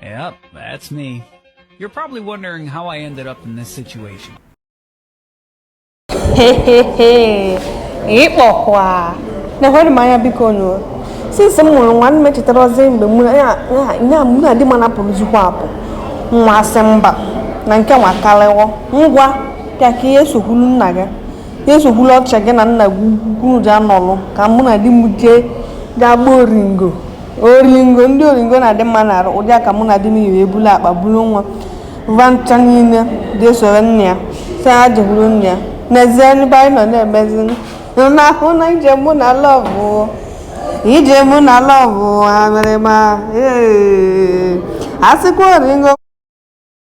Yep, that's me. You're probably wondering how I ended up in this situation. Hehehe, ịkpọkwa na-enwere m anya biko nụ since m mụrụ nwa m echetarọzi mgbe mụ na di m na-apụrụzikwa apụ nwa asị mba na nke nwa karịwo ngwa bịa ka i jee sokwuru nna gị jee sokwuru ochie gị na nna gị ukwu unu ji anọlụ ka mụ na di m jee gaa gbaa oringo oringo ndị oringo na-adị mma n'arụ ụdị a ka mụ na di m yiri ebulu akpa buru nwa va ncha niile ga-esoro nne ya sị ha jekwuru nne ya n'ezie ebe anyị nọ na-emezi n'ahụ na ije mụ na lọvụ ije mụ na lọvụ amịrịma ee asịkwa oringo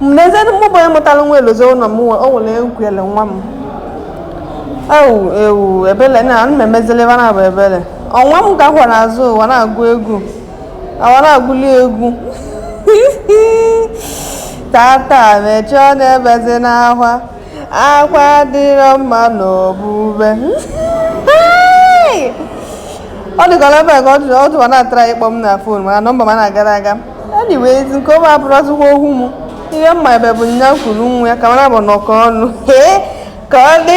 n'ezie mụ bụ onye mụtara nwa elozo ụlọ m nwe o nwere nkwele nwa m ewu ewu ebele na ana m emezili ebe na-abụ ebele nwa m ka kwọ n'azụ wa na-agụ egwu a wa na-agụli egwu tata mechie ọnụ ebezina akwa akwa adịrọ mma n'obube ọ dịkọrọ ebe ka ọ dịwa na-atara ịkpọ m na fon mana nọmba m na-agara aga anyways nke ahụ abụrọzikwa okwu m ihe m ma ebe bụ nya kuru nwa ya ka mara bụ nọkọ ọnụ ka ọ dị